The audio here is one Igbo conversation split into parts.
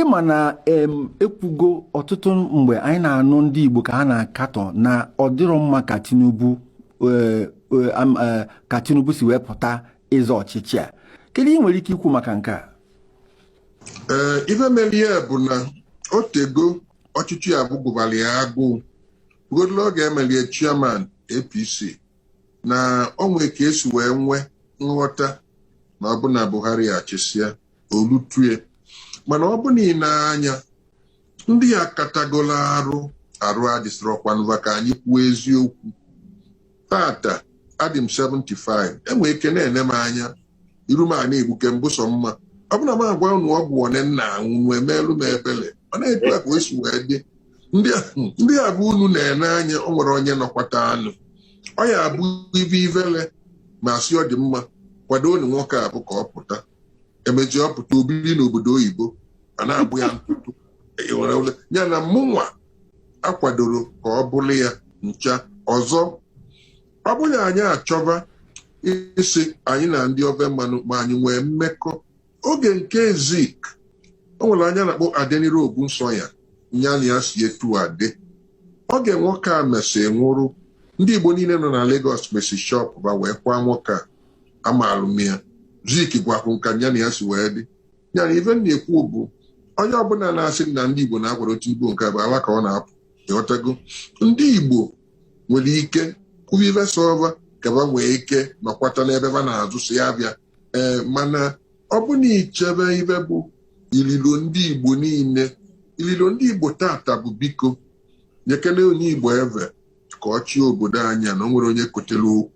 ịma na ekwugo ọtụtụ mgbe anyị na-anụ ndị Igbo ka ha na-akatọ na ọ dịrọ mma ka Tinubu e, e, e, ka Tinubu si wee pụta ịzọ ọchịchị a kedu ihe ị nwere ike ikwu maka nke a ee ife mere ya bụ na o tego ọchịchị a bụ gụbara ya agụụ rugodoro oge e meli e chairman APC na o nwe ka e si wee nwee nghọta na ọ bụ na Buhari achịsịa o lutu e mana ọ bụ na ị nee anya ndị a katagolo arụ arụ adịsịrọkwanụ va ka anyị kwuo eziokwu tata adị m 75 e nwee ike na-ene m anya iru m ana-egbuke m bụ sọ mma ọ bụ na m agwa unu ọgwụ one m na-aṅụ unu emeelụ m ebele ọ na-etu a ka o si wee dị ndị a- ndị a bụ unu na-ene anya o nwere onye nọkwata anụ ọ ya-abụ ive ivele ma a sị ọ dị mma kwadoonụ nwoke a bụ ka ọ pụta e mezie ọ pụta o biri n'obodo oyibo a na-agba ya ntụtụ nya na mụnwa akwadorọ ka ọ bụrụ ya ncha ọzọ ọ bụ na anyị achọba ịsị anyị na ndị ofe mmanụ ma anyị nwee mmekọ oge nke Zik o nwere onye a na-akpọ Adeniran Ogunsanya nya na ya si etu a dị oge nwoke a mesị nwụrụ ndị igbo niile nọ na Lagos mesi shop ba wee kwaa nwoke a amaalụ m ya Zik gwakwu m ka ya na ya si wee dị ya na ife m na-ekwu bụ onye ọbụla na-asị na ndị igbo na-akwado Tinubu nke bụ ala ka ọ na-apụ ịghọtago ndị igbo nwere ike kwuba ife sọ va ka ba nwee ike nọkwata n'ebe ba na-azụsị avịa ee mana ọ bụ na i chebe ife bụ ililo ndị igbo niile ililo ndị igbo tata bụ biko nyekene onye igbo eve ka ọ chịa obodo a nya na o nwere onye kotere okwu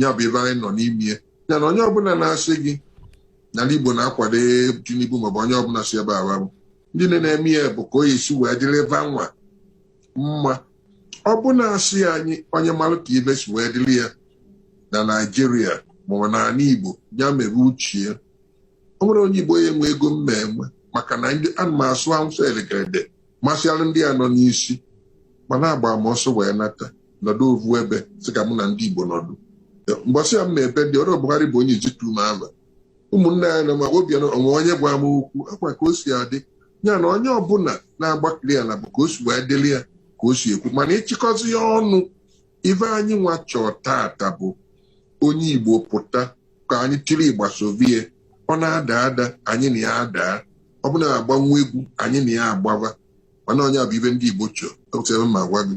ya bụ ife anyị nọ n'ime ya ya na onye ọbụla na-asị gị na ala Igbo na-akwado Tinubu maọbụ onye ọbụla si ebe awa bụ ndị na-eme ya bụ ka ọ ya-esi wee dịrị va nwa mma ọ bụ na a sị anyị onye mara ka ife si wee dịrị ya na Naịjirịa maọbụ n'ala Igbo ya mebe uche ya o nwere onye Igbo ya enwe ego m na-enwe maka na ndị ana m asụ Awụsa elegede masịara ndị a nọ n'isi mana agba m ọsọ wee nata nọdụ ovu ebe sị ka mụ na ndị Igbo nọdụ mgbasị ya m na-ebe ndị ọrụ Buhari bụ onye ijitu m ava ụmụnne ya na ma Obianọ o nwe onye gwa m okwu akwa ka o si adị ya na onye ọbụla na-agbakiri ya na bụ ka o si wee dịrị ya ka o si ekwu mana ịchịkọzi ya ọnụ ife anyị nwa chọọ tata bụ onye Igbo pụta ka anyị tiri ịgba sovie ọ na-ada ada anyị na ya adaa ọ bụ na agbanwe egwu anyị na ya agbaba mana nya bụ ife ndị Igbo chọọ ma gwa gị